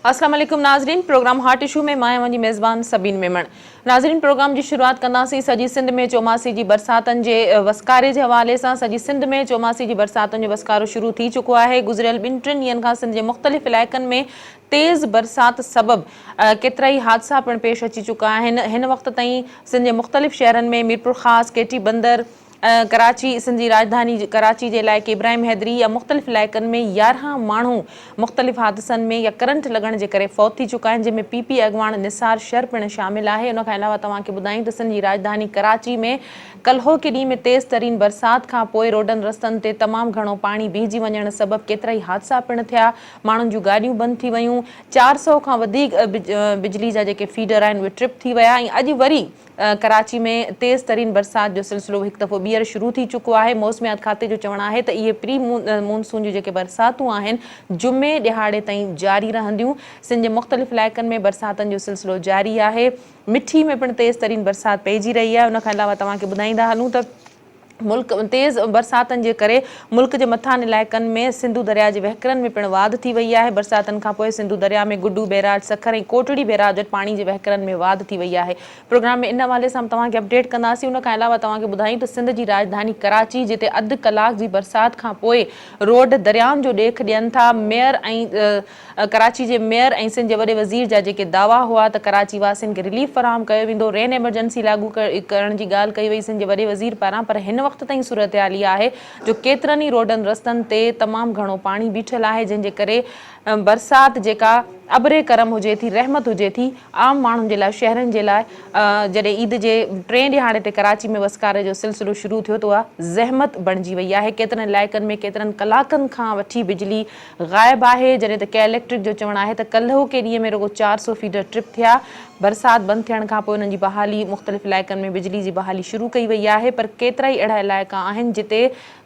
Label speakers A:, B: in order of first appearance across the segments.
A: السلام عليڪم ناظرين پروگرام هاٽ اشو ۾ مان اوهان جي ميزبان سبين ميمڻ ناظرين پروگرام جي شروعات ڪنداسين سڄي سنڌ ۾ چوماسي جي برساتن جي وسڪاري جي حوالي سان سڄي سنڌ ۾ چوماسي جي برساتن جو وسڪارو شروع ٿي چڪو آهي گذريل ٻن ٽن ڏينهن کان سنڌ جي مختلف علائقن ۾ تيز برسات سبب ڪيترائي حادثا پڻ پيش اچي چڪا آهن هن وقت تائين سنڌ جي مختلف شهرن ۾ ميرپورخاص، ڪي ٽي بندر، ڪراچي، سنڌ جي راڄڌاني ڪراچي جي علائقي ابراهيم حيدري يا مختلف علائقن ۾ يارهن ماڻهو مختلف حادثن ۾ يا ڪرنٽ لڳڻ جي ڪري فوت ٿي چڪا آهن جنهن ۾ پي پي اڳواڻ نثار شر پڻ شامل آهي ان کان علاوه توهان کي ٻڌايون ته سنڌ جي راڄڌاني ڪراچي ۾ ڪلهوڪي ڏينهن ۾ تيز ترين برسات کانپوء روڊن رستن تي تمام گهڻو پاڻي بيهجي وڃڻ سبب ڪيترائي حادثا پڻ ٿيا ماڻهن جون گاڏيون بند ٿي ويون، چار سؤ کان وڌيڪ بجلي جا جيڪي فيڊر آهن اهي ٽرپ ٿي ويا ۽ اڄ وري ڪراچي ۾ تيز ترين برسات جو سلسلو هڪ دفعو ٻيهر شروع ٿي چڪو آهي، موسميات کاتي جو چوڻ آهي ته اهي پري مون سون جون جيڪي برساتون آهن جمعي ڏهاڙي تائين جاري رهنديون، سنڌ جي مختلف علائقن ۾ برساتن جو سلسلو جاري آهي، مٺي ۾ پڻ تيز ترين برسات پئجي رهي آهي، ان کان علاوه توهان کي ٻڌائيندا هلون ته. ملڪ تيز برساتن جي ڪري ملڪ جي مٿانهن علائقن ۾ سنڌو درياء جي وهڪرن ۾ پڻ واڌ ٿي وئي آهي برساتن کانپوء سنڌو درياء ۾ گڊو بيراج سکر ۽ ڪوٽڙي بيراج وٽ پاڻي جي وهڪرن ۾ واڌ ٿي وئي آهي پروگرام ۾ ان حوالي سان به توهان کي اپڊيٽ ڪنداسين ان کان علاوه توهان کي ٻڌايون ته سنڌ جي راڄڌاني ڪراچي جتي اڌ ڪلاڪ جي برسات کانپوء روڊ دريائن جو ڏيک ڏين ٿا ميئر ۽ ڪراچي جي ميئر ۽ سنڌ جي وڏي وزير جا جيڪي دعويٰ هئا ته ڪراچي واسين کي رليف فراهم ڪيو ويندو، رين ايمرجنسي لاڳو ڪرڻ جي ڳالهه ڪئي وئي سنڌ جي وڏي وزير پاران پر هن وقت تائين صورتحال اها آهي جو ڪيترن ئي روڊن رستن تي تمام گهڻو پاڻي بيٺل آهي جنهن جي ڪري برسات جيڪا ابري ڪرم هجي ٿي رحمت هجي ٿي عام ماڻهن جي لاء شهرين جي لاء جڏهن عيد جي ٽئين ڏهاڙي تي ڪراچي ۾ وسڪاري جو سلسلو شروع ٿيو ته اها زحمت بڻجي وئي آهي ڪيترن علائقن ۾ ڪيترن ڪلاڪن کان وٺي بجلي غائب آهي، جڏهن ته ڪئي اليڪٽرڪ جو چوڻ آهي ته ڪلهوڪي ڏينهن ۾ رڳو چار سؤ فيڊر ٽرپ ٿيا، برسات بند ٿيڻ کانپوء انهن جي بحالي مختلف علائقن ۾ بجلي جي بحالي شروع ڪئي وئي آهي پر ڪيترائي اهڙا علائقا آهن جتي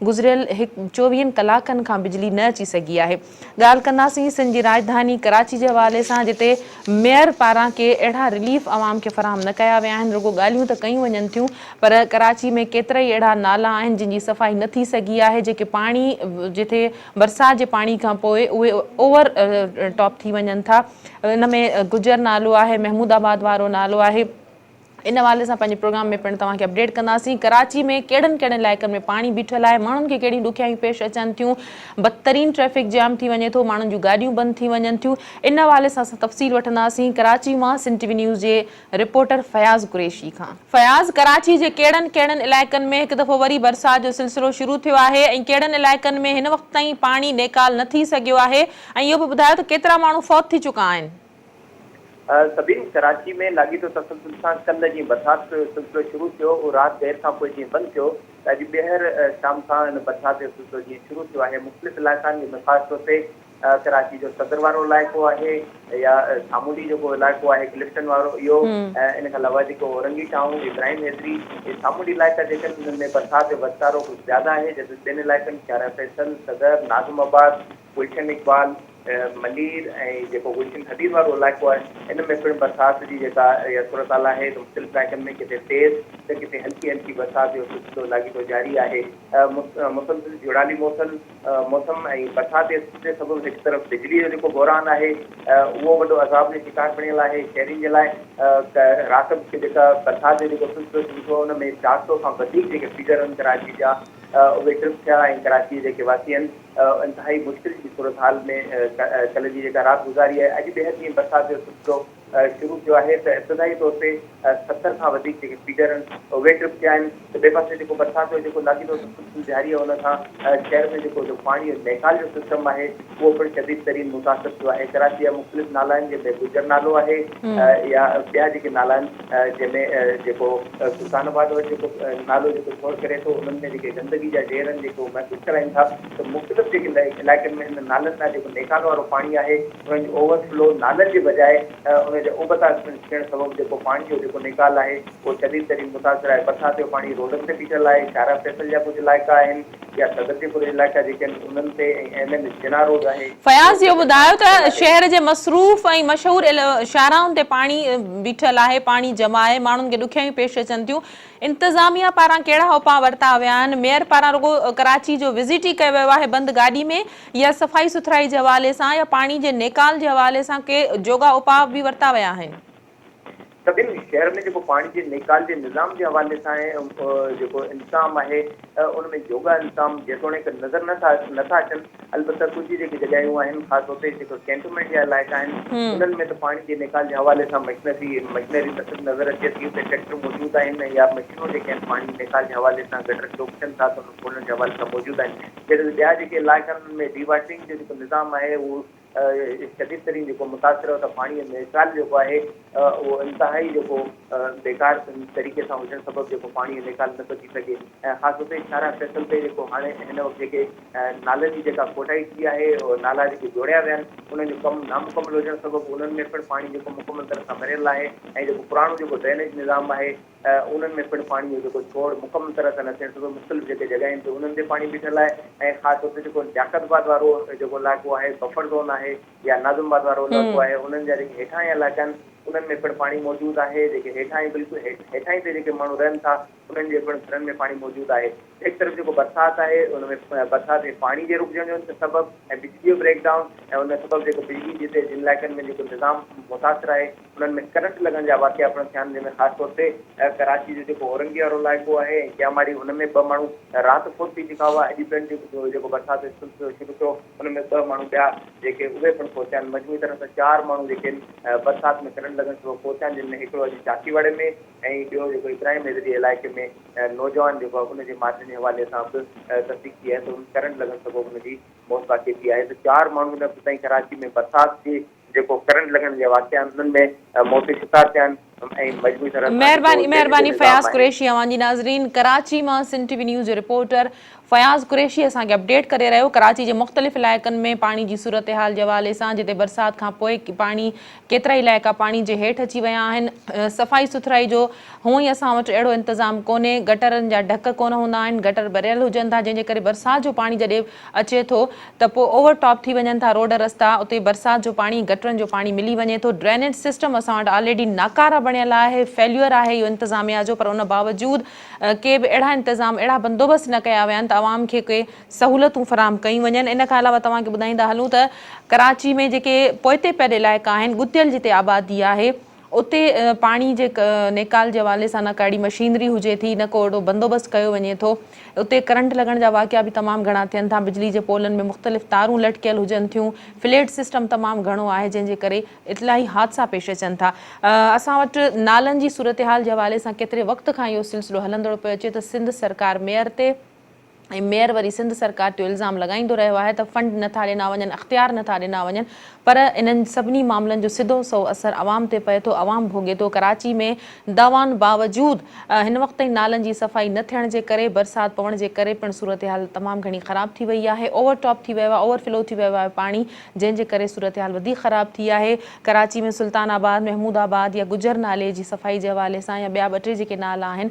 A: گذريل چوويهن ڪلاڪن کان بجلي نه اچي سگهي آهي ڳالهه ڪنداسين سنڌ جي راڄڌاني ڪراچي جي حوالي سان جتي ميئر پاران ڪي اهڙا رليف عوام کي فراهم نه ڪيا ويا آهن رڳو ڳالهيون ته ڪيون وڃن ٿيون پر ڪراچي ۾ ڪيترائي اهڙا نالا آهن جن جي صفائي نه ٿي سگهي آهي جيڪي پاڻي جتي برسات جي پاڻي کان پوء اهي اوور ٽاپ ٿي وڃن ٿا ان ۾ گجر نالو آهي محمود آباد وارو نالو آهي ان حوالي سان پنهنجي پروگرام ۾ پڻ توهان کي اپڊيٽ ڪنداسين ڪراچي ۾ ڪهڙن ڪهڙن علائقن ۾ پاڻي بيٺل آهي ماڻهن کي ڪهڙيون ڏکيائيون پيش اچن ٿيون بدترين ٽريفڪ جام ٿي وڃي ٿو ماڻهن جون گاڏيون بند ٿي وڃن ٿيون ان حوالي سان اسان تفصيل وٺنداسين ڪراچي مان سنڌ ٽي وي نيوز جي رپورٽر فياض قريشي کان. فياض، ڪراچي جي ڪهڙن ڪهڙن علائقن ۾ هڪ دفعو وري برسات جو سلسلو شروع ٿيو آهي ۽ ڪهڙن علائقن ۾ هن وقت تائين پاڻي نيڪال نه ٿي سگهيو آهي ۽ اهو به ٻڌايو ته ڪيترا ماڻهو فوت ٿي چڪا آهن.
B: سبين، ڪراچي ۾ لاڳيتو تسلسل سان ڪلهه جيئن برسات جو سلسلو شروع ٿيو هو رات دير کان پوء جيئن بند ٿيو ته اڄ ٻيهر شام کان ان برسات جو سلسلو جيئن شروع ٿيو آهي مختلف علائقان جي مفاد طور تي ڪراچي جو صدر وارو علائقو آهي يا سامونڊي جيڪو علائقو آهي ڪلفٽن وارو اهو ان کان علاوه جيڪو اورنگي ٽائون ابراهيم حيدري اهي سامونڊي علائقا جيڪي آهن انهن ۾ برسات جو وسڪارو ڪجهه زياده آهي جڏهن ٻين علائقن شارع فيصل، صدر، ناظم آباد، گلشن اقبال، ملير ۽ جيڪو گلشن حديد وارو علائقو آهي ان ۾ پڻ برسات جي جيڪا اها صورتحال آهي ته مختلف علائقن ۾ ڪٿي تيز ته ڪٿي هلڪي هلڪي برسات جو سلسلو لاڳيتو جاري آهي مسلسل جهڙالي موسل موسم ۽ برسات جي سلسلي سبب هڪ طرف بجلي جو جيڪو بحران آهي اهو وڏو عذاب جو شڪار بڻيل آهي شهرين جي لاء رات جو جيڪا برسات جو جيڪو سلسلو شروع ٿيو ان ۾ چار سئو کان وڌيڪ جيڪي فيڊر آهن ڪراچي جا اهي ٽرپ ٿيا ۽ ڪراچي جا جيڪي واسي آهن انتهائي مشڪل جي صورتحال ۾ ڪلهه جي جيڪا رات گذاري آهي اڄ ٻيهر جيئن برسات جو سلسلو شروع ٿيو آهي ته ابتدائي طور تي ستر کان وڌيڪ جيڪي فيڊر ان اهي ٽرپ ٿيا آهن ته ٻئي پاسي جيڪو برسات جو جيڪو لاڳيتو تسلسل جاري آهي ان سان شهر ۾ جيڪو جو پاڻي جو نيڪال جو سسٽم آهي اهو پڻ شديد ترين متاثر ٿيو آهي ڪراچي جا مختلف نالا آهن جنهن ۾ گجر نالو آهي يا ٻيا جيڪي نالا آهن جنهن ۾ جيڪو سلطان آباد وٽ جيڪو نالو جيڪو شور ڪري ٿو انهن ۾ جيڪي گندگي جا ڍير آهن جيڪو محسوس ڪرائين ٿا ته مختلف جيڪي علائقن ۾ هن نالن ڏانهن جيڪو نيڪال وارو پاڻي آهي ان جو اوور فلو نالن جي بجاء ان جا اوبتا ٿيڻ سبب جيڪو پاڻي جو جيڪو نيڪال آهي اهو شديد ترين متاثر آهي برسات جو پاڻي روڊن تي بيٺل آهي شارع فيصل جا ڪجهه علائقا آهن يا صدر جي ڪجهه علائقا جيڪي آهن انهن تي ۽ ايم اين جناح روڊ آهي فياض اهو ٻڌايو
A: ته شهر جي مصروف ۽ مشهور شاهراهن تي پاڻي بيٺل آهي پاڻي جمع آهي ماڻهن کي ڏکيائيون پيش اچن ٿيون انتظاميا پاران ڪهڙا اپاء ورتا ويا آهن، ميئر پاران رڳو ڪراچي جو وزٽ ئي ڪيو ويو آهي بند گاڏي ۾ يا صفائي سٿرائي جي حوالي سان يا پاڻي جي نيڪال جي حوالي سان ڪي جوڳا اپاء به ورتا ويا آهن. سڀني
B: شهر ۾ جيڪو پاڻي جي نيڪال جي نظام جي حوالي سان جيڪو انتظام آهي ان ۾ جوڳا انتظام جيتوڻيڪ نظر نه ٿا اچن البته ڪجهه جيڪي جڳهيون آهن خاص طور تي جيڪي ڪينٽونمينٽ جا علائقا آهن انهن ۾ ته پاڻي جي نيڪال جي حوالي سان مشنري مشنري تصل نظر اچي ٿي اتي ٽريڪٽر موجود آهن يا مشينون جيڪي آهن پاڻي جي نيڪال جي حوالي سان گٽر چوڪسين ٿا ته انهن کولڻ جي حوالي سان موجود آهن جڏهن ته ٻيا جيڪي علائقا آهن انهن ۾ ڊي واٽرنگ جو جيڪو نظام آهي اهو شديد ترين جيڪو متاثر آهي اتان پاڻي جو نيڪال جيڪو آهي اهو انتهائي جيڪو بيڪار طريقي سان هجڻ سبب جيڪو پاڻي جو نيڪال نه ٿو ٿي سگهي ۽ خاص طور تي شاهراهه فيصل تي جيڪو هاڻي هن وقت جيڪي نالن جي جيڪا کوٽائي ٿي آهي، نالا جيڪي جوڙيا ويا آهن، انهن جو ڪم نامڪمل هجڻ سبب انهن ۾ پڻ پاڻي جيڪو مڪمل طرح سان مريل ناهي ۽ جيڪو پراڻو جيڪو ڊرينيج نظام آهي، انهن ۾ پڻ پاڻي جو جيڪو ڇوڙ مڪمل طرح سان نه ٿيڻ سبب مختلف جيڪي جڳهين تي انهن تي پاڻي بيٺل آهي ۽ خاص طور تي جيڪو لياقت آباد وارو جيڪو علائقو آهي، بفر زون آهي يا ناظم آباد وارو علائقو آهي، انهن جا جيڪي هيٺاهين علائقا آهن، انهن ۾ پڻ پاڻي موجود آهي، جيڪي هيٺاهين بلڪل هيٺاهين تي جيڪي ماڻهو رهن ٿا، انهن جي پڻ گهرن ۾ پاڻي موجود آهي. هڪ طرف جيڪو برسات آهي ان ۾ برسات ۾ پاڻي جي رڪجڻ جو سبب ۽ بجلي جو بريڪ ڊائون ۽ ان سبب جيڪو بجلي جتي جن علائقن ۾ جيڪو نظام متاثر آهي انهن ۾ ڪرنٽ لڳڻ جا واقعا پڻ ٿيا آهن جنهن ۾ خاص طور تي ڪراچي جو جيڪو اورنگي وارو علائقو آهي ۽ ڪياماڙي ان ۾ ٻه ماڻهو رات فوت ٿي چڪا هئا اڄ پڻ جيڪو برسات جو سلسلو شروع ٿيو ان ۾ ٻه ماڻهو ٻيا جيڪي اهي پڻ فوت ٿيا آهن مجموعي طرح سان چار ماڻهو جيڪي آهن برسات ۾ ڪرنٽ لڳڻ سبب فوت ٿيا آهن جن ۾ هڪڙو اڄ چاڪي واڙي ۾ ۽ ٻيو جيڪو ابراهيم هيض جي علائقي ۾ نوجوان جيڪو آهي ان جي مارجن جي حوالي سان به تصديق ٿي آهي ته ان ڪرنٽ لڳڻ سبب ان جي موت واقع ٿي آهي ته چار ماڻهو هن وقت تائين ڪراچي ۾ برسات جي جيڪو ڪرنٽ لڳڻ جا واقعا آهن انهن ۾ موت جو شڪار ٿيا آهن ۽ مجموعي طرح سان مهرباني مهرباني
A: فياض قريشي اوهان جي ناظرين ڪراچي مان سنڌ ٽي وي نيوز جو رپورٽر فياض قريشي اسان کي اپڊيٽ ڪري رهيو ڪراچي جي مختلف علائقن ۾ پاڻي جي صورتحال جي حوالي سان جتي برسات کان پوء پاڻي ڪيترائي علائقا پاڻي جي هيٺ اچي ويا آهن صفائي سٿرائي جو هونئن ئي اسان وٽ اهڙو انتظام ڪونهي گٽرن جا ڍڪ ڪونه هوندا آهن گٽر ڀريل هجن ٿا جنهن جي ڪري برسات جو پاڻي جڏهن اچي ٿو ته پوء اوور ٽاپ ٿي وڃن ٿا روڊ رستا اتي برسات جو پاڻي گٽرن جو پاڻي ملي وڃي ٿو ڊرينيج سسٽم اسان وٽ آلريڊي ناڪاره بڻيل آهي فيليور آهي اهو انتظاميا جو پر ان باوجود ڪي به اهڙا انتظام اهڙا بندوبست نه ڪيا ويا آهن ته عوام کي ڪي سهولتون فراهم ڪيون وڃن ان کان علاوه توهان کي ٻڌائيندا هلون ته ڪراچي ۾ جيڪي پوئتي پيل علائقا آهن ڳتيل جتي آبادي آهي اتي پاڻي جي نيڪال جي حوالي سان نه ڪا اهڙي مشينري هجي ٿي نه ڪو اهڙو بندوبست ڪيو وڃي ٿو اتي ڪرنٽ لڳڻ جا واقعا به تمام گهڻا ٿين ٿا بجلي جي پولن ۾ مختلف تارون لٽڪيل هجن ٿيون فليٽ سسٽم تمام گهڻو آهي جنهن جي ڪري اطلاعي حادثا پيش اچن ٿا اسان وٽ نالن جي صورتحال جي حوالي سان ڪيتري وقت کان اهو سلسلو هلندڙ پيو اچي ته سنڌ سرڪار ميئر تي ۽ ميئر وري سنڌ سرڪار تي الزام لڳائيندو رهيو آهي ته فنڊ نه ٿا ڏنا وڃن اختيار نه ٿا ڏنا وڃن پر انهن سڀني معاملن جو سڌو سئو اثر عوام تي پئي ٿو عوام ڀوڳي ٿو ڪراچي ۾ دعوائن باوجود هن وقت تائين نالن جي صفائي نه ٿيڻ جي ڪري برسات پوڻ جي ڪري پڻ صورتحال تمام گهڻي خراب ٿي وئي آهي اوور ٽاپ ٿي ويو آهي اوور فلو ٿي ويو آهي پاڻي جنهن جي ڪري صورتحال وڌيڪ خراب ٿي آهي، ڪراچي ۾ سلطان آباد، محمود آباد يا گجر نالي جي صفائي جي حوالي سان يا ٻيا ٻه ٽي جيڪي نالا آهن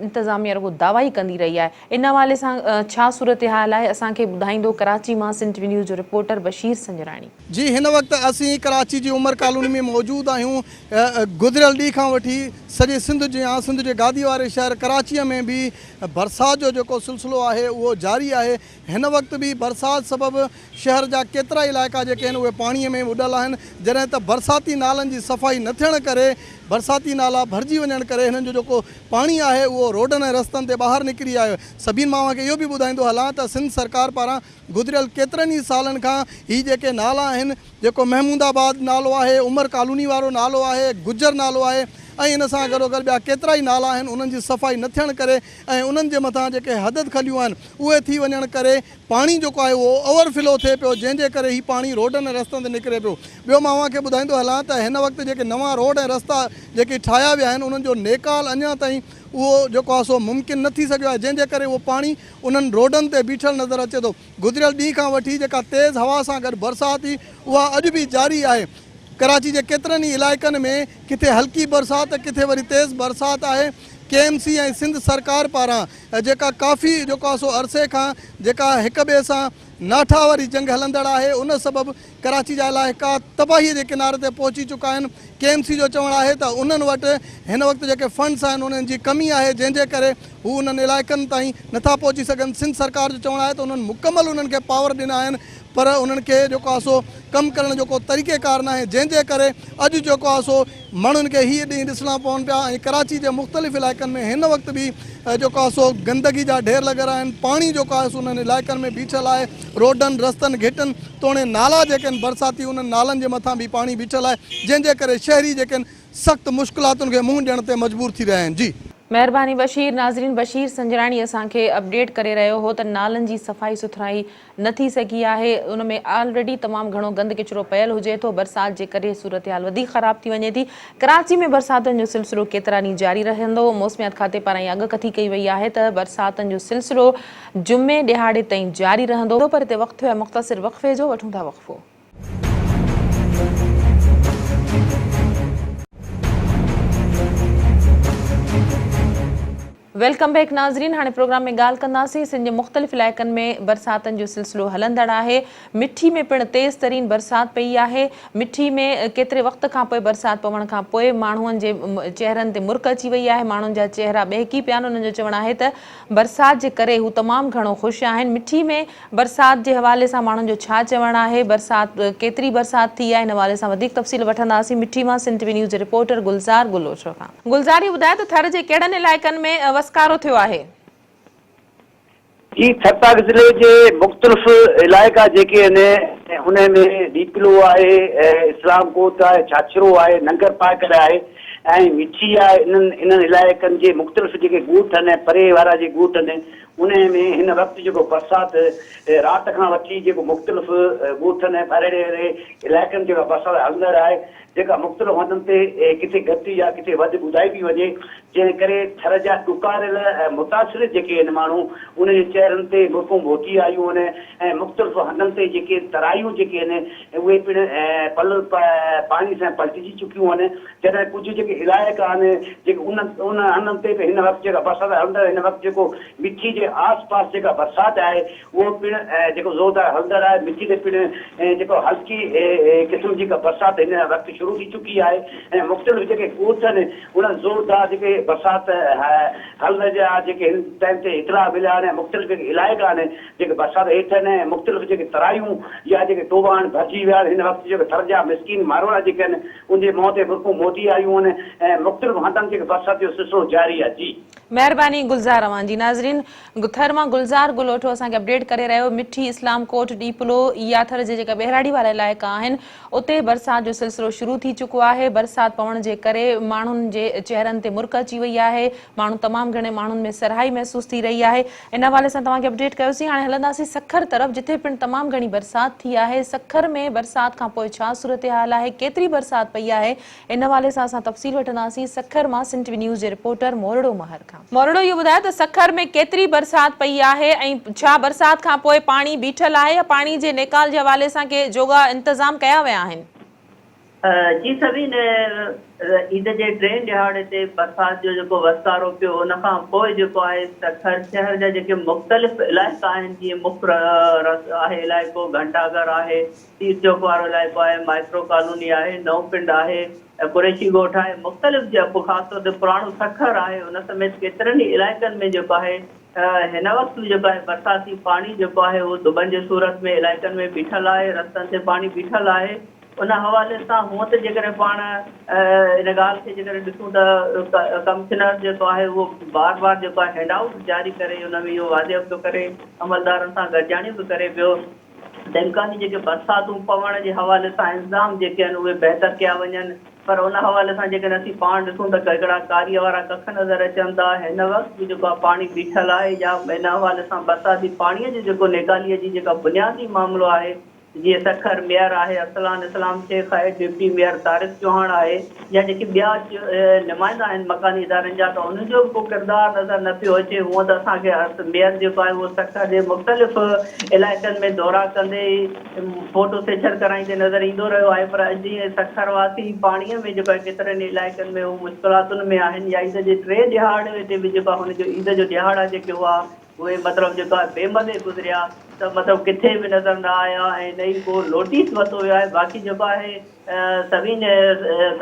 A: انتظاميه رڳو دعوا ئي ڪندي رهي آهي، ان حوالي سان ڇا صورتحال آهي اسان کي ٻڌائيندو ڪراچي مان سنڌ ٽي وي نيوز جو رپورٽر بشير سنجراڻي. جي هن وقت
C: اسين ڪراچي جي عمر ڪالوني ۾ موجود آهيون گذريل ڏينهن کان وٺي سڄي سنڌ جيان سنڌ جي گادي واري شهر ڪراچي ۾ به برسات جو جيڪو سلسلو آهي اهو جاري آهي، هن وقت به برسات سبب شهر جا ڪيترائي علائقا جيڪي آهن اهي پاڻي ۾ ٻڏل آهن جڏهن ته برساتي نالن جي صفائي نه ٿيڻ ڪري برساتي نالا ڀرجي وڃڻ ڪري هنن جو جيڪو پاڻي آهي اهو روڊن ۽ رستن تي ٻاهر نڪري آيو سبين مان اوهان کي اهو به ٻڌائيندو هلان ته سنڌ سرڪار پاران گذريل ڪيترن ئي سالن کان هي جيڪي نالا آهن جيڪو محمود آباد نالو آهي عمر ڪالوني وارو نالو آهي گجر نالو آهي ۽ ان سان گڏوگڏ ٻيا ڪيترائي نالا آهن انهن جي صفائي نه ٿيڻ ڪري ۽ انهن جي مٿان جيڪي حدد کليون آهن اهي ٿي وڃڻ ڪري پاڻي جيڪو آهي اهو اوور فلو ٿئي پيو جنهن جي ڪري هي پاڻي روڊن ۽ رستن تي نڪري پيو ٻيو مان اوهان کي ٻڌائيندو هلان ته هن وقت جيڪي نوان روڊ ۽ رستا جيڪي ٺاهيا ويا آهن انهن جو نيڪال اڃان تائين اهو جيڪو آهي سو ممڪن نه ٿي سگهيو آهي جنهن جي ڪري اهو پاڻي انهن روڊن تي بيٺل نظر اچي ٿو گذريل ڏينهن کان وٺي جيڪا تيز هوا سان گڏ برسات هئي اها اڄ به جاري آهي ڪراچي جي ڪيترن ئي علائقن ۾ ڪٿي هلڪي برسات ته ڪٿي وري تيز برسات آهي. ڪي ايم سي ۽ سنڌ سرڪار پاران جيڪا ڪافي جيڪو سو عرصي کان جيڪا هڪ ٻئي سان ناٺا واري جنگ هلندڙ آهي ان سبب ڪراچي جا علائقا تباهي جي ڪناري تي پهچي چڪا آهن ڪي ايم سي جو چوڻ آهي ته انهن وٽ هن وقت جيڪي فنڊز آهن انهن جي ڪمي آهي جنهن جي ڪري هو انهن علائقن تائين نٿا پهچي سگهن سنڌ سرڪار جو چوڻ آهي ته انهن مڪمل انهن کي پاور ڏنا آهن پر انهن کي جيڪو آهي سو ڪم ڪرڻ جو ڪو طريقي ڪار ناهي جنهن جي ڪري اڄ جيڪو آهي سو ماڻهن کي هي ڏينهن ڏسڻا پون پيا ۽ ڪراچي جي مختلف علائقن ۾ هن وقت به جيڪو آهي سو گندگي جا ڍير لڳل آهن پاڻي جيڪو آهي سو انهن علائقن ۾ بيٺل آهي روڊن رستن گهٽن توڻي نالا جيڪي آهن برساتي انهن نالن جي مٿان به پاڻي بيٺل آهي جنهن جي ڪري شهري جيڪي آهن سخت مشڪلاتن کي منهن ڏيڻ تي مجبور ٿي رهيا آهن جي. مهرباني بشير
A: ناظرين بشير سنجراڻي اسان کي اپڊيٽ ڪري رهيو هو ته نالن جي صفائي سٿرائي نه ٿي سگهي آهي ان ۾ آلريڊي تمام گهڻو گند ڪچرو پيل هجي ٿو برسات جي ڪري صورتحال وڌيڪ خراب ٿي وڃي ٿي ڪراچي ۾ برساتن جو سلسلو ڪيترا ڏينهن جاري رهندو موسميات کاتي پاران اها اڳڪٿي ڪئي وئي آهي ته برساتن جو سلسلو جمعي ڏهاڙي تائين جاري رهندو پر هتي وقت ۽ مختصر وقفي جو وٺون ٿا وقفو. ويلڪم بيڪ ناظرين هاڻي پروگرام ۾ ڳالهه ڪنداسين سنڌ جي مختلف علائقن ۾ برساتن جو سلسلو هلندڙ آهي مٺي ۾ پڻ تيز ترين برسات پئي آهي مٺي ۾ ڪيتري وقت کان پوء برسات پوڻ کان پوء ماڻهن جي چهرن تي مرڪ اچي وئي آهي ماڻهن جا چهرا ٻهڪي پيا آهن انهن جو چوڻ آهي ته برسات جي ڪري هو تمام گهڻو خوش آهن. مٺي ۾ برسات جي حوالي سان ماڻهن جو ڇا چوڻ آهي، برسات ڪيتري برسات ٿي آهي ان حوالي سان وڌيڪ تفصيل وٺنداسين مٺي مان سنڌ ٽي وي نيوز جي رپورٽر گلزار گلوچو کان. گلزار هي ٻڌاء ته ٿر جي ڪهڙن علائقن ۾ وسڪارو ٿيو آهي؟ جي
D: ٿرپارڪر ضلعي جي مختلف علائقا جيڪي آهن انهن ۾ ڏيپلو آهي، اسلام ڪوٽ آهي، ڇاڇرو آهي، ننگرپارڪر آهي، ۽ وچي آء انهن انهن علائقن جي مختلف جيڪي ڳوٺ آهن ۽ پري وارا جي ڳوٺ آهن انهن ۾ هن وقت جيڪو برسات رات کان وٺي جيڪو مختلف ڳوٺن ۽ پريڙي ويري علائقن جيڪا برسات هلندڙ آهي جيڪا مختلف هنڌن تي ڪٿي گهٽ يا ڪٿي وڌ ٻڌائي پي وڃي جنهن ڪري ٿر جا ڏڪاريل ۽ متاثر جيڪي آهن ماڻهو انهن جي چهرن تي مرڪون ڀوتي آيون آهن ۽ مختلف هنڌن تي جيڪي ترايون جيڪي آهن اهي پڻ پل پاڻي سان پلٽجي چڪيون آهن، جڏهن ڪجهه جيڪي علائقا آهن، جيڪي انهن تي به هن وقت جيڪا برسات هلندڙ هن وقت جيڪو مٺي جي آس پاس جيڪا برسات آهي، اهو پڻ جيڪو زوردار هلندڙ آهي، مٺي تي پڻ جيڪو هلڪي قسم جي ڪا برسات هن وقت شروع ٿي چڪي آهي ۽ مختلف جيڪي ڳوٺ آهن، انهن زوردار جيڪي برسات هلندڙ جا جيڪي هن ٽائيم تي اطلاع مليا آهن ۽ مختلف جيڪي علائقا آهن، جيڪي برسات هيٺ آهن ۽ مختلف جيڪي ترايون يا جيڪي ٽوڀا آهن ڀرجي ويا آهن هن وقت جيڪي ٿر جا مسڪين ماروئڙا جيڪي آهن ان جي منهن تي برقون موتي آيون آهن ۽ مختلف هنڌن جيڪي برسات جو سلسلو جاري آهي جي. مهرباني گلزار
A: اوهان جي. ناظرين ٿر مان گلزار گلوٺو اسان کي اپڊيٽ ڪري رهيو مٺي اسلام ڪوٽ ڏيپلو يا ٿر جي جيڪا ٻهراڙي وارا علائقا آهن اتي برسات جو سلسلو شروع ٿي چڪو آهي برسات پوڻ جي ڪري ماڻهن جي چهرن تي مرڪ اچي وئي آهي ماڻهو تمام گهڻي ماڻهن ۾ سرهائي محسوس ٿي رهي آهي ان حوالي سان توهان کي اپڊيٽ ڪيوسين هاڻي هلنداسين سکر طرف جتي پڻ تمام گهڻي برسات ٿي آهي سکر ۾ برسات کانپوء ڇا صورتحال آهي ڪيتري برسات پئي آهي ان حوالي سان اسان تفصيل وٺنداسين سکر مان سنڌ ٽي وي نيوز جي رپورٽر مورڙو مهر کان مورڙو اهو ٻڌاء ته سکر ۾ ڪيتري برسات پئي آهي ۽ ڇا برسات کانپوء پاڻي بيٺل آهي يا پاڻي جي نيڪال جي حوالي سان ڪي جوڳا انتظام ڪيا ويا آهن.
E: جي سوين عيد جي ٽئين ڏهاڙي تي برسات جو جيڪو وسڪارو پيو ان کان پوء جيڪو آهي سکر شهر جا جيڪي مختلف علائقا آهن جيئن مک رس آهي علائقو گهنٽا گهر آهي پير چوڪ وارو علائقو آهي مائڪرو ڪالوني آهي نئون پنڊ آهي قريشي ڳوٺ آهي مختلف خاص طور تي پراڻو سکر آهي ان سميت ڪيترن ئي علائقن ۾ جيڪو آهي هن وقت به جيڪو آهي برساتي پاڻي جيڪو آهي اهو دٻن جي صورت ۾ علائقن ۾ بيٺل آهي رستن تي پاڻي بيٺل آهي ان حوالي سان هونء ته جيڪڏهن پاڻ ان ڳالهه کي جيڪڏهن ڏسون ته ڪمشنر جيڪو آهي اهو بار بار جيڪو آهي هينڊ آئوٽ جاري ڪري ان ۾ اهو واضح پيو ڪري عملدارن سان گڏجاڻيون به ڪري پيو ته امڪاني جيڪي برساتون پوڻ جي حوالي سان انتظام جيڪي آهن اهي بهتر ڪيا وڃن پر ان حوالي سان جيڪڏهن اسين پاڻ ڏسون ته هڪڙا ڪاريء وارا ڪک نظر اچن ٿا هن وقت به جيڪو آهي پاڻي بيٺل آهي يا ان حوالي سان برساتي پاڻيء جو جيڪو نيڪاليء جي جيڪا بنيادي معاملو آهي جي سکر ميئر آهي ارسلان اسلام شيخ آهي، ڊپٽي ميئر طارق چوهاڻ آهي يا جيڪي ٻيا نمائندا آهن مڪاني ادارن جا ته انهن جو به ڪو ڪردار نظر نه پيو اچي هونئن ته اسان کي ارس ميئر جيڪو آهي اهو سکر جي مختلف علائقن ۾ دورا ڪندي فوٽو سيڇر ڪرائيندي نظر ايندو رهيو آهي پر اڄ جيئن سکر واسي پاڻي ۾ جيڪو آهي ڪيترن ئي علائقن ۾ هو مشڪلاتن ۾ آهن يا عيد جي ٽي ڏهاڙي تي به جيڪو آهي هن جو عيد جو ڏهاڙا جيڪي هئا اهي مطلب جيڪا بي مدي گذريا ته مطلب ڪٿي به نظر نه آيا ۽ نه ئي ڪو نوٽيس ورتو ويو آهي باقي جيڪو آهي سوين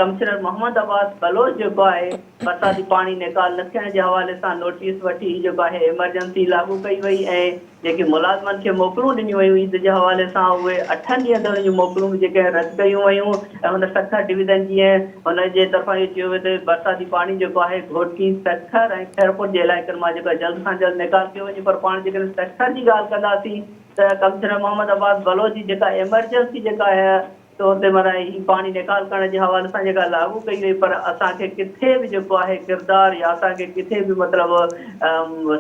E: ڪمشنر محمد عباس بلوچ جيڪو آهي برساتي پاڻي نيڪال نه ٿيڻ جي حوالي سان نوٽيس وٺي جيڪو آهي ايمرجنسي لاڳو ڪئي وئي ۽ جيڪي ملازمن کي موڪلون ڏنيون ويون عيد جي حوالي سان اهي اٺن ڏينهن تائين جون موڪلون به جيڪي رد ڪيون ويون ته هن سکر ڊويزن جيئن هن جي طرفان اهو چيو ويو ته برساتي پاڻي جيڪو آهي گهوٽڪي، سکر ۽ خيرپور جي علائقن مان جيڪو آهي جلد کان جلد نيڪال ڪيو وڃي پر پاڻ جيڪڏهن سکر جي ڳالهه ڪنداسين ته ڪمشنر محمد عباس بلوچ جي جيڪا ايمرجنسي جيڪا آهي سو هتي معنيٰ هي پاڻي نيڪال ڪرڻ جي حوالي سان جيڪا لاڳو ڪئي وئي پر اسان کي ڪٿي به جيڪو آهي ڪردار يا اسان کي ڪٿي به مطلب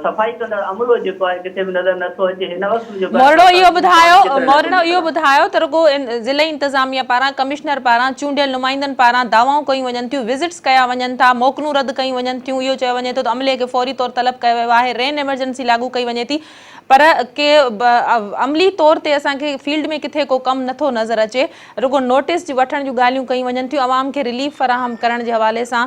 E: صفائي ڪندڙ عملو جيڪو آهي ڪٿي به نظر نٿو اچي هن وقت به مورڙو اهو ٻڌايو
A: مورڙو اهو ٻڌايو ته رڳو ضلعي انتظاميه پاران ڪمشنر پاران چونڊيل نمائندن پاران دعوائون ڪيون وڃن ٿيون وزٽس ڪيا وڃن ٿا موڪلون رد ڪيون وڃن ٿيون اهو چيو وڃي ٿو ته عملي کي فوري طور طلب ڪيو ويو آهي رين ايمرجنسي لاڳو ڪئي وڃي ٿي پر ڪي عملي طور تي اسان کي فيلڊ ۾ ڪٿي ڪو ڪم نٿو نظر اچي رڳو نوٽس جي وٺڻ جون ڳالهيون ڪيون وڃن ٿيون عوام کي رليف فراهم ڪرڻ جي حوالي سان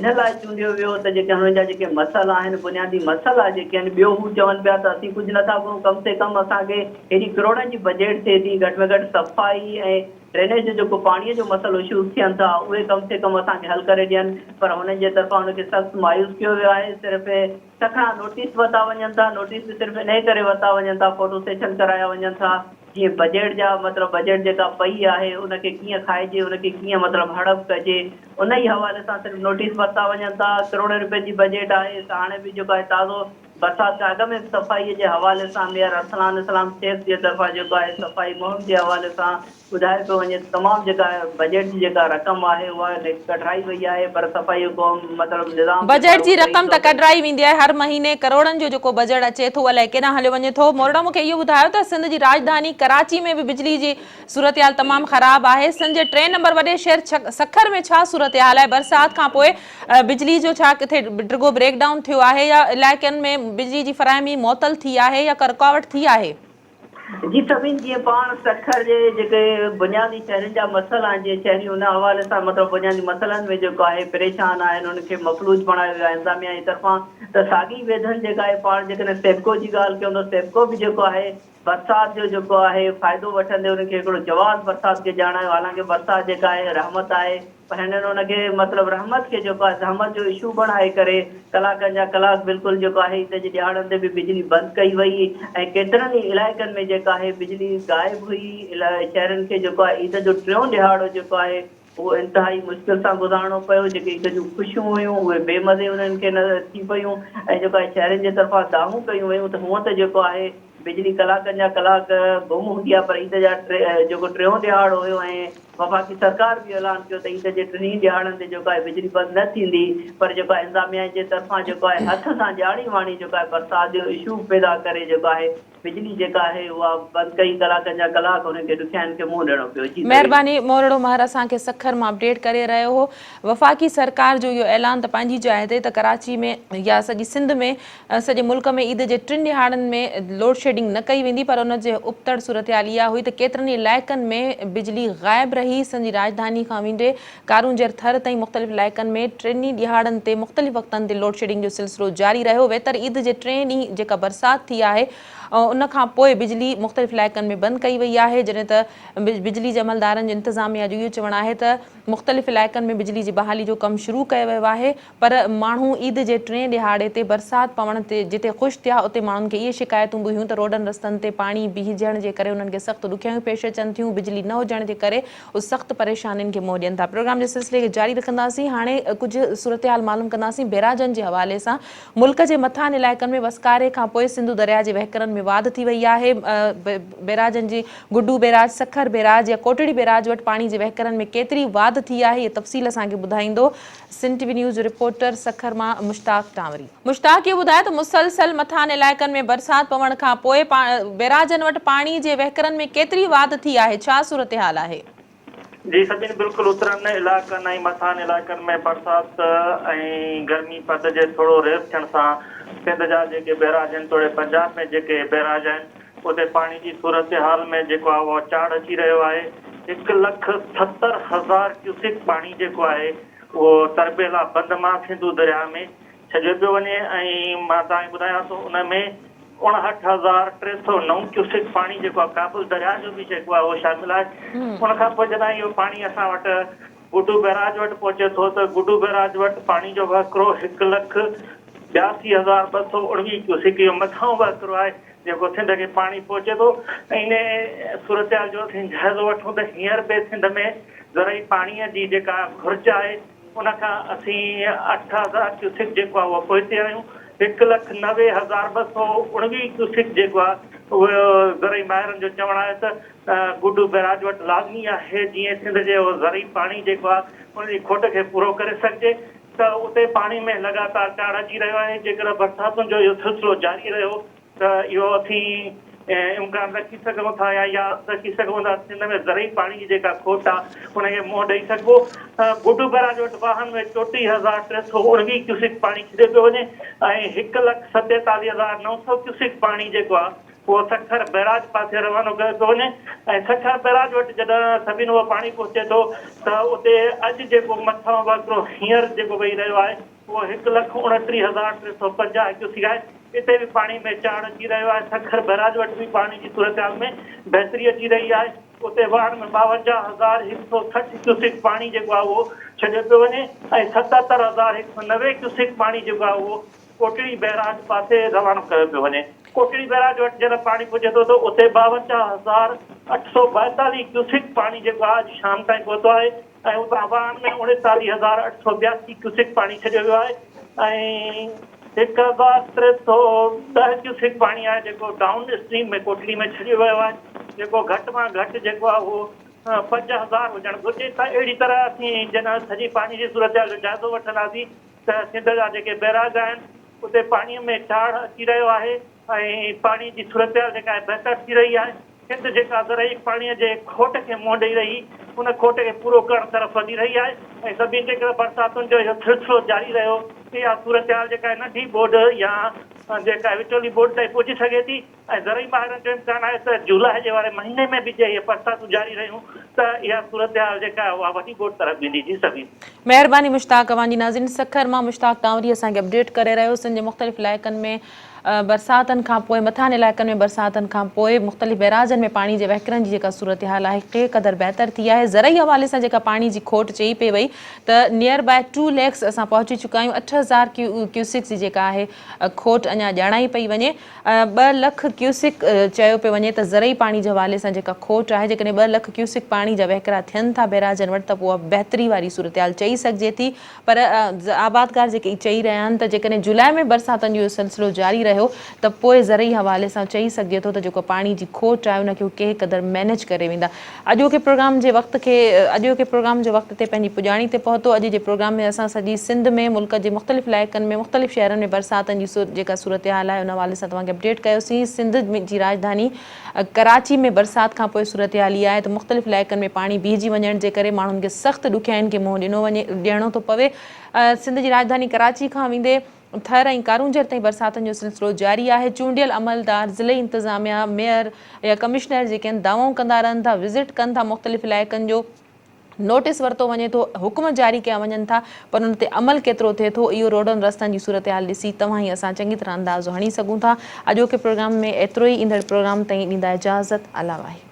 E: ان لاء چونڊيو ويو ته جيڪي هنن جا جيڪي مسئلا آهن، بنيادي مسئلا جيڪي آهن، ٻيو هو چون پيا ته اسين ڪجهه نٿا گهرون، ڪم سي ڪم اسان کي هيڏي ڪروڙن جي بجيٽ ٿئي ٿي، گهٽ ۾ گهٽ صفائي ۽ ڊرينيج جو جيڪو پاڻي جو مسئلو اشوز ٿين ٿا، اهي ڪم سي ڪم اسان کي حل ڪري ڏين پر هنن جي طرفان ان کي سخت مايوس ڪيو ويو آهي، صرف سکڻا نوٽيس ورتا وڃن ٿا، نوٽيس به صرف انهي ڪري ورتا وڃن ٿا، فوٽو سيشن ڪرايا وڃن ٿا، جيئن بجيٽ جا مطلب بجيٽ جيڪا پئي آهي ان کي ڪيئن کائجي، ان کي ڪيئن مطلب هڙپ ڪجي، انهي حوالي سان صرف نوٽيس ورتا وڃن ٿا، ڪروڙين روپين جي بجيٽ آهي، هاڻي به جيڪو آهي تازو برسات کان اڳ ۾ به صفائي جي حوالي سان ميئر ارسلان اسلام شيخ جي طرفان جيڪو آهي صفائي مهم جي حوالي سان ٻڌايو پيو وڃي ته تمام جيڪا بجيٽ جي جيڪا رقم آهي اها ڪڍرائي وئي آهي پر صفائي جو ڪم مطلب نظام تي بجيٽ جي ڪارروائي رقم ته نٿو ڪري.
A: ڪڍرائي ويندي آهي هر مهيني ڪروڙن جو جيڪو بجيٽ اچي ٿو الائي ڪيڏانهن هليو وڃي ٿو مورڙا مون کي اهو ٻڌايو ته سنڌ جي راڄڌاني ڪراچي ۾ به بجلي جي صورتحال تمام خراب آهي سنڌ جي ٽئين نمبر وڏي شهر سکر ۾ ڇا صورتحال آهي برسات کان پوء بجلي جو ڇا ڪٿي ڊگهو بريڪ ڊائون ٿيو آهي يا علائقن ۾ بجلي جي فراهمي معطل ٿي آهي يا ڪا رڪاوٽ ٿي آهي. جي سڀني
E: جيئن پاڻ سکر جي جيڪي بنيادي شهرين جا مسئلا آهن جيئن شهري ان حوالي سان مطلب بنيادي مسئلن ۾ جيڪو آهي پريشان آهن انهن کي مفلوج بڻايو ويو آهي انتظاميا جي طرفان ته ساڳي ويڌن جيڪا آهي پاڻ جيڪڏهن سيپڪو جي ڳالهه ڪيون ته سيپڪو به جيڪو آهي برسات جو جيڪو آهي فائدو وٺندي انهن کي هڪڙو جواز برسات کي ڄاڻايو حالانڪه برسات جيڪا آهي رحمت آهي پر هنن ان کي مطلب رحمت کي جيڪو آهي زحمت جو اشو بڻائي ڪري ڪلاڪن جا ڪلاڪ بلڪل جيڪو آهي عيد جي ڏهاڙن تي به بجلي بند ڪئي وئي ۽ ڪيترن ئي علائقن ۾ جيڪا آهي بجلي غائب هئي شهرين کي جيڪو آهي عيد جو ٽيون ڏهاڙو جيڪو آهي اهو انتهائي مشڪل سان گذارڻو پيو جيڪي عيد جون خوشيون هيون اهي بي مزي انهن کي ٿي پيون ۽ جيڪو آهي شهرين جي طرفان دانهون ڪيون ويون ته هونئن ته جيڪو آهي بجلي ڪلاڪن جا ڪلاڪ گم هوندي آهي پر عيد جا جيڪو ٽيون ڏهاڙو هيو ۽ وفاقي سرڪار به اهو اعلان ڪيو ته عيد جي ٽنهي ئي ڏهاڙن تي جيڪو آهي بجلي بند نه ٿيندي پر جيڪو آهي انتظاميا جي طرفان جيڪو آهي هٿ سان ڄاڻي واڻي جيڪو آهي برسات جو اشو پيدا ڪري جيڪو آهي بجلي جيڪا آهي اها بند ڪئي ڪلاڪن جا ڪلاڪ انهن کي ڏکيائين کي منهن ڏيڻو پيو جي نويد. مهرباني مورڙو مهر
A: اسان کي سکر مان اپڊيٽ ڪري رهيو هو وفاقي سرڪار جو اهو اعلان ته پنهنجي جاء تي ته ڪراچي ۾ يا سڄي سنڌ ۾ سڄي ملڪ ۾ عيد جي ٽن ڏهاڙن ۾ لوڊشيڊنگ نه ڪئي ويندي پر ان جي ابتڙ صورتحال اها هئي ته ڪيترن ئي علائقن ۾ بجلي غائب رهي، سنڌ جي راڄڌاني کان ويندي ڪارونجهر ٿر تائين مختلف علائقن ۾ ٽن ئي ڏهاڙن تي مختلف وقتن تي لوڊشيڊنگ جو سلسلو جاري رهيو ويتر عيد جي ٽئين ڏينهن جيڪا برسات ٿي آهي ان کان پوء بجلي مختلف علائقن ۾ بند ڪئي وئي آهي جڏهن ته بجلي جي عملدارن جو انتظاميا جو اهو چوڻ آهي ته مختلف علائقن ۾ بجلي جي بحالي جو ڪم شروع ڪيو ويو آهي پر ماڻهو عيد جي ٽئين ڏهاڙي تي برسات پوڻ تي جتي خوش ٿيا اتي ماڻهن کي اهي شڪايتون به هيون ته روڊن رستن تي پاڻي بيهجڻ جي ڪري انهن کي سخت ڏکيائيون پيش اچن ٿيون بجلي نه هجڻ جي ڪري اهي سخت پريشانين کي منهن ڏين ٿا پروگرام جي سلسلي کي جاري رکنداسين هاڻي ڪجهه صورتحال معلوم ڪنداسين بئراجن جي حوالي سان ملڪ جي مٿانهن علائقن ۾ وسڪاري کان پوء سنڌو درياء جي وهڪرن ۾ واڌ ٿي وئي آهي بئراجن جي گڊو بئراج سکر بئراج يا ڪوٽڙي بئراج وٽ پاڻي جي وهڪرن ۾ ڪيتري واڌ ٿي آهي اهي تفصيل اسان کي ٻڌائيندو سنڌ ٽي وي نيوز رپورٽر سکر مان مشتاق ٽانوري. مشتاق اهو ٻڌاء ته مسلسل مٿانهن علائقن ۾ برسات پوڻ کان پوء بيراجن وٽ پاڻي جي وهڪرن ۾ ڪيتري واڌ ٿي آهي ڇا صورتحال آهي؟ جي سڄن
F: بلڪل اترن علائقن ۽ مٿانهن علائقن ۾ برسات ۽ گرمي پد جي ٿورو ريس ٿيڻ سان سنڌ جا جيڪي بيراج آهن توڙي پنجاب ۾ جيڪي بيراج آهن اتي پاڻي جي صورتحال ۾ جيڪو آهي اهو چاڙهه اچي رهيو آهي، هڪ لک ستر هزار ڪيوسڪ پاڻي جيڪو آهي اهو تربيلا بند مان سنڌو درياهه ۾ ڇڏيو پيو وڃي ۽ مان توهان کي ٻڌايان ٿو ان ۾ اڻهٺ هزار ٽي سؤ نو ڪيوسڪ پاڻي جيڪو آهي ڪابل درياهه جو به جيڪو آهي اهو شامل آهي ان کان پوء جڏهن اهو پاڻي اسان وٽ گڊو بئراج وٽ پهچي ٿو ته گڊو بئراج وٽ پاڻي جو وهڪرو هڪ لک ٻياسي هزار ٻه سؤ اڻويهه ڪيوسڪ اهو مٿانهون وهڪرو آهي جيڪو سنڌ کي پاڻي پهچي ٿو ۽ انهي صورتحال جو اسين جائزو وٺون ته هينئر به سنڌ ۾ زرعي پاڻيء جي جيڪا گهرج آهي ان کان اسين اٺ هزار ڪيوسڪ جيڪو آهي اهو پوئتي آهيون هڪ لک نوي هزار ٻه سؤ اڻويهه ڪيوسڪ جيڪو آهي اهو زرعي ماهرن جو چوڻ آهي ته گڊو بئراج وٽ لازمي آهي جيئن سنڌ جي اهو زرعي پاڻي جيڪو آهي ان جي کوٽ کي پورو ڪري سگهجي ته اتي پاڻي ۾ لڳاتار چاڙهه اچي رهيو آهي، جيڪڏهن برساتن جو اهو سلسلو جاري رهيو ته اهو اسين امڪان رکي سگهون ٿا يا يا رکي سگهون ٿا سنڌ ۾ زرعي پاڻي جي جيڪا کوٽ آهي ان کي منهن ڏئي سگهبو، گڊو بئراج وٽ واهن ۾ چوٽيهه هزار ٽي سؤ اڻويهه ڪيوسڪ پاڻي ڇڏيو پيو وڃي ۽ هڪ لک ستيتاليهه هزار نو سؤ ڪيوسڪ پاڻي جيڪو آهي اهو سکر بئراج پاسي روانو ڪيو پيو وڃي ۽ سکر بئراج وٽ جڏهن سڀني اهو پاڻي پهچي ٿو ته اتي اڄ جيڪو مٿانهون وهڪرو هينئر جيڪو وهي رهيو آهي اهو هڪ لک اڻٽيهه هزار ٽي سؤ پنجاهه ڪيوسڪ آهي اتي به پاڻي ۾ چاڙهه اچي رهيو آهي سکر بئراج وٽ به پاڻي جي صورتحال ۾ بهتري اچي رهي آهي اتي واهڻ ۾ ٻاونجاهه هزار هڪ سؤ سٺ ڪيوسڪ پاڻي جيڪو آهي اهو ڇڏيو پيو وڃي ۽ ستهتر هزار هڪ سؤ نوي ڪيوسڪ پاڻي جيڪو آهي اهو ڪوٽڙي بئراج پاسي رواڻو ڪيو پيو وڃي. ڪوٽڙي بئراج وٽ جڏهن پاڻي پهچي ٿو ته اتي ٻاونجاهه هزار اٺ سؤ ٻائيتاليهه ڪيوسڪ پاڻي جيڪو آهي اڄ شام تائين پهتو آهي ۽ اتان واهن ۾ اڻيتاليهه هزار اٺ سؤ ٻياسي ڪيوسڪ پاڻي ڇڏيو ويو آهي ۽ هڪ هزار ٽي سؤ ڏهه ڪيوسڪ پاڻي آهي جيڪو ڊائون اسٽريم ۾ ڪوٽڙي ۾ ڇڏيو ويو آهي جيڪو گهٽ مان گهٽ جيڪو آهي اهو پنج هزار هجڻ گهرجي ته اهڙي طرح اسين جڏهن سڄي پاڻي جي صورتحال جو جائزو وٺنداسين ته سنڌ جا جيڪي بئراج آهن اتي پاڻي ۾ چاڙهه اچي رهيو آهي ۽ پاڻي جي صورتحال جيڪا آهي بهتر ٿي رهي آهي سنڌ جيڪا زرعي پاڻي جي کوٽ کي منهن ڏئي رهي ان کوٽ کي پورو ڪرڻ طرف وڌي رهي آهي ۽ سڀني جيڪر برساتن جو اهو سلسلو جاري رهيو اها صورتحال جيڪا آهي ننڍي ٻوڏ يا جيڪا وچولي ٻوڏ تائين پهچي سگهي ٿي ۽ زرعي ماهرن جو امڪان آهي ته جولاء جي واري مهيني ۾ به جي اهي برساتون جاري رهيون ته اها صورتحال جيڪا آهي اها وڏي ٻوڏ طرف ويندي جي سمير. مهرباني
A: مشتاق اوهان جي ناظرين سکر مان مشتاق ڪانوري اسان کي اپڊيٽ ڪري رهيو سنڌ جي مختلف علائقن ۾ برساتن کان پوء مٿانهن علائقن ۾ برساتن کان پوء مختلف بئراجن ۾ پاڻي جي وهڪرن جي جيڪا صورتحال آهي ڪي قدر بهتر ٿي آهي زرعي حوالي سان جيڪا پاڻي جي کوٽ چئي پئي وئي ته نيئر باء ٽو ليڪس اسان پهچي چڪا آهيون اٺ هزار ڪيوسڪس جي جيڪا آهي کوٽ اڃا ڄاڻائي پئي وڃي ٻه لک ڪيوسڪ چيو پيو وڃي ته زرعي پاڻي جي حوالي سان جيڪا کوٽ آهي جيڪڏهن ٻه لک ڪيوسڪ پاڻي جا وهڪرا ٿين ٿا بئراجن وٽ ته پوء اها بهتري واري صورتحال چئي سگهجي ٿي پر آبادگار جيڪي اهي چئي رهيا آهن ته جيڪڏهن جولاء ۾ برساتن جو اهو سلسلو جاري رهيو ته پوء زرعي حوالي سان چئي سگهجي ٿو ته جيڪو پاڻي جي کوٽ آهي ان کي اهي ڪنهن قدر مينيج ڪري ويندا اڄوڪي پروگرام جي وقت کي اڄوڪي پروگرام جو وقت تي پنهنجي پڄاڻي تي پهتو اڄ جي پروگرام ۾ اسان سڄي سنڌ ۾ ملڪ جي مختلف علائقن ۾ مختلف شهرن ۾ برساتن جي جيڪا صورتحال آهي ان حوالي سان توهان کي اپڊيٽ ڪيوسين سنڌ جي راڄڌاني ڪراچي ۾ برسات کان پوء صورتحال اها آهي ته مختلف علائقن ۾ پاڻي بيهجي وڃڻ جي ڪري ماڻهن کي سخت ڏکيائين کي منهن ڏنو وڃي ڏيڻو ٿو پوي سنڌ جي راڄڌاني ڪراچي کان ويندي ٿر ۽ ڪارونجهر تائين برساتن جو سلسلو جاري آهي، چونڊيل عملدار ضلعي انتظاميا، ميئر يا ڪمشنر جيڪي هن دعوائون ڪندا رهن ٿا، وزٽ ڪن ٿا مختلف علائقن جو نوٽيس ورتو وڃي ٿو، حڪم جاري ڪيا وڃن ٿا پر ان تي عمل ڪيترو ٿئي ٿو اهو روڊن رستن جي صورتحال ڏسي توهان ۽ اسان چڱي طرح اندازو هڻي سگهون ٿا، اڄوڪي پروگرام ۾ ايترو ئي ايندڙ پروگرام تائين ڏيندا اجازت الله واحد.